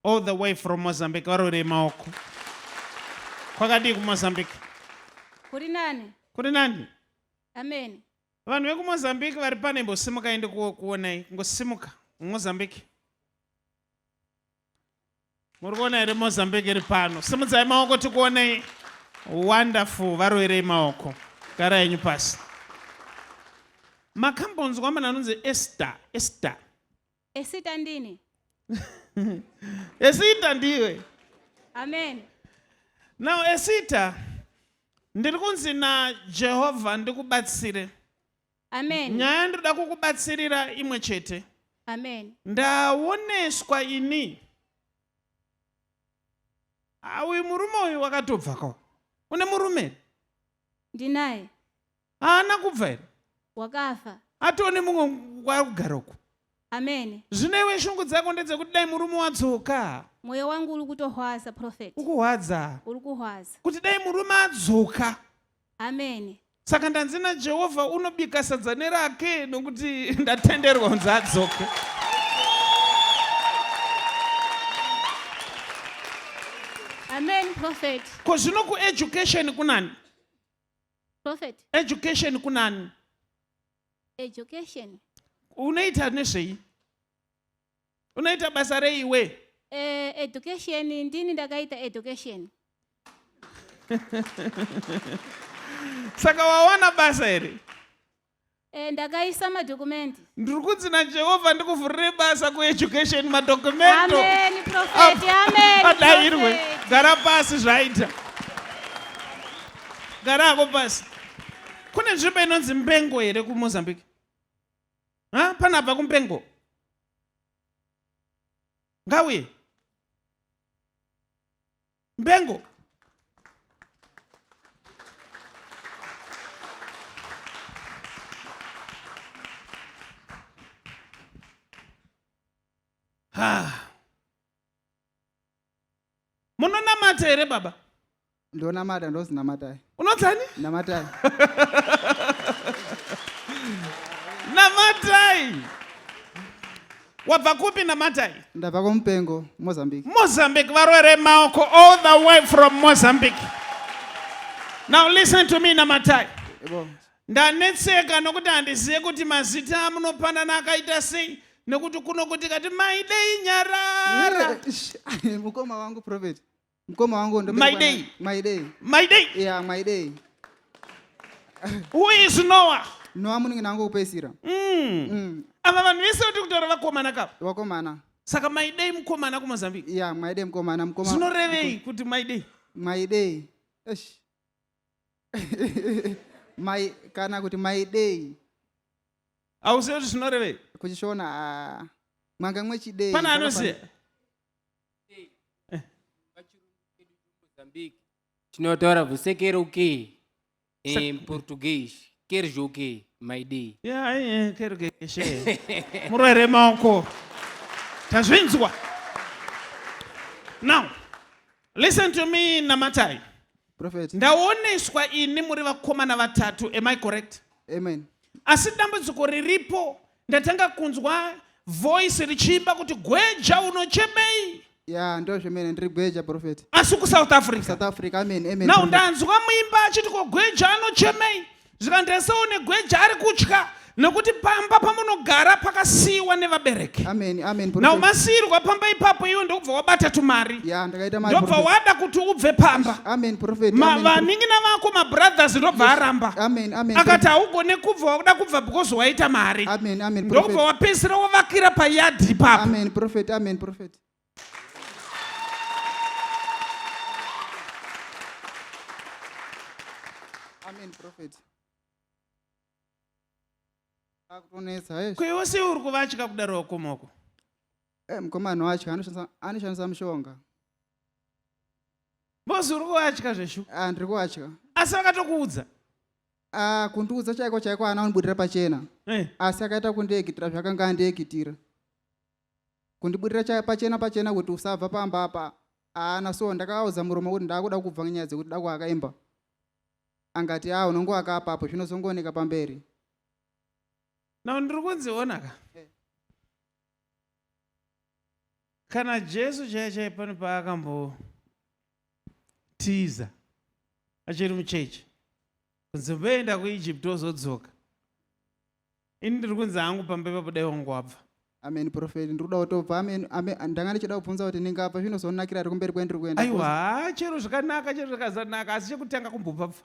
all the way from mozambique varorei maoko kwakadii kumozambique kuri nani kuri nani amen vanhu vekumozambique vari pane imbosimukai ndikuonai ngosimuka mozambique muri kuona here mozambique iri pano simudzai maoko tikuonei wonderful varoerei maoko gara yenyu pasi makambonzwa munhu anonzi ester ester Esita ndini. Esita ndiwe. Amen. Now Esita ndiri kunzi naJehovha ndikubatsire. Amen. Nyaya ndoda kukubatsirira imwe chete. Amen. Ndaoneswa ini. Awi murume uyu wakatobvako. Une murume? Ndinaye. haana kubva here wakafa atone mumwe kwari kugara uku amene zvino iwe shungu dzako ndedzekuti dai murume wadzoka mwoyo wangu uri kutohwaza profet ukuhwadza uri kuhwaza kuti dai murume adzoka amene saka ndanzi najehovha unobika sadza nerake nokuti ndatenderwa kunzi adzoke amen profet ko zvino kueducation kunani prophet education kunani education unoita nezvei unoita basa rei iwe eh, education ndini ndakaita education saka wawana basa here Eh, ndakaisa madokumenti. Ndiri kunzi naJehovha ndikuvhurire basa kueducation madokumento. Amen, profeti. Amen. Adairwe. Gara pasi zvaita. Gara hako pasi. Kune nzvimbo inonzi Mbengo here kuMozambique? Ha? Panabva kuMbengo. Ngawi. mbengo munonamata here baba ndonamata ndozinamatai unotani namatai namatai wabva kupi namatai ndabva kumupengo mozambique mozambique varwere maoko all the way from mozambique now listen to me namatai ndanetseka nokuti handizive kuti mazita amunopanana akaita sei nekuti kuno kuti kati maidei nyarara mukoma wangu prophet Mkoma wangu ndo my day. My day. My day. Yeah, my day. Who is Noah? Noah muningi nangu kupesira. Mm. Mm. Ava vanhu vese vati kutaura vakomana ka. Vakomana. Saka my day mkomana ku Mozambique. Yeah, my day mkomana mkomana. Zvinorevei kuti my day? My day. Eish. my kana kuti my day. Auzivi kuti zvinorevei? Kuchishona ah, mwanga mwechiday. Pana anoziva. tinotaura vusekero ke em português quer joke my day kergeshe murwere maoko tazvinzwa now listen to me namatai Prophet. Ndaoneswa ini muri vakomana vatatu, am I correct? Amen. Asi dambudziko riripo ndatanga kunzwa voice richiimba kuti gweja unochemei? Yeah, ndo zvemene ndiri gweja prophet. Asi ku South Africa. South Africa, amen, amen. Now prophet. ndanzwa muimba achiti ko gweja anochemei? zvikanzi ese une gweja ari kutya nokuti pamba pamunogara pakasiyiwa nevabereki Amen. Amen. now prophet. masiyirwa pamba ipapo iwe ndokubva wabata tumari Yeah, ndakaita mari. ndobva prophet. wada kuti ubve pamba Amen. Prophet. Ma- Amen. vanin'ina vako mabrothers ndobva aramba Amen. Amen. akati haugone kubva wakuda kubva because waita mari Amen. Amen. ndokubva Prophet. wapedzisira wavakira payadhi ipapo Amen. Prophet. Amen. Prophet. Amen, prophet. Akutonetsa, hey. ko iwe sei uri kuvatya kudaro wakomoko Eh, mukomana wacho anoshandisa- anoshandisa mushonga. bozi uri kuvatya zveshu Ah, ndiri kuwatya. asi vakatokuudza Ah, kundiudza chaiko chaiko ana unibudira pachena. Eh, Asi akaita kundiekitira zvakanga andiekitira. kundiburira pachena pachena kuti usabva pamba apa haana so ndakaaudza murume kuti ndaakuda kubva nyaya dzekuti dako akaimba angati a unongoaka apapo zvinozongooneka pamberi now ndiri kunziona ka eh. kana jesu chaiye chaiye pano paakambotiza achiri muchechi kunzi mboenda kuegypt ozodzoka ini ndiri kunzi hangu pamba ipapo dai wangu wabva amen prophet ndiri kuda kutobva amen amen ndanga ndichida kubvunza kuti ndingabva zvinozonakira ari kumberi kwendiri kuenda aiwa haa chero zvakanaka chero zvakazanaka asi chekutanga kumbobva bva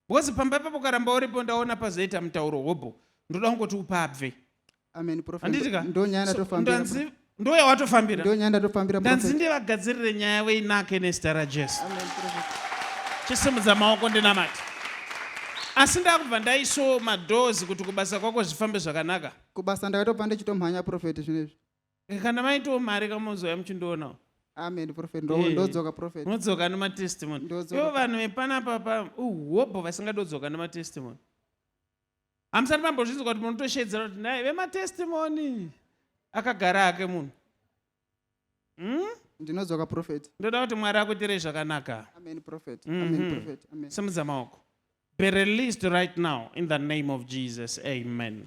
because pamba ipapo ukaramba uripo ndaona pazoita mutauro hobho ndoda kungoti upabve amen prophet Handitika? ndonyana So, tofambira ndanzi- ndoyawatofambira ndonyandatofambira ndanzi ndivagadzirire nyaya yavo inake nezita rajesu chisimudza maoko ndinamati asi ndakubva ndaiso madoors kuti kubasa kwako zvifambe zvakanaka kubasa ndakatobva ndichitomhanya profeti zvinezvi eh, kana maitoo mari kamozoya muchindionawo amen profet eh, ndodzoka profet unodzoka nematestimony ivo vanhu vepanapapa uhobho vasingadodzoka nematestimony hamusati mambozvinzwa kuti munotosheedzera kuti naye vematestimoni akagara hake munhu hmm? ndinodzoka profet ndoda kuti mwari akuitirei zvakanaka amen profet mm -hmm. amen mhm. profet amen simudza maoko be released right now in the name of jesus amen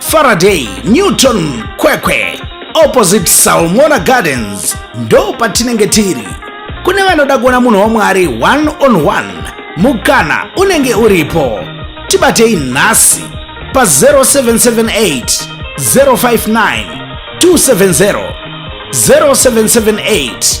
Faraday, Newton, Kwekwe, opposite Salmona Gardens ndo patinenge tiri. Kune vanoda kuona munhu waMwari one on one, mukana unenge uripo. Tibatei nhasi pa 0778 059 270 0778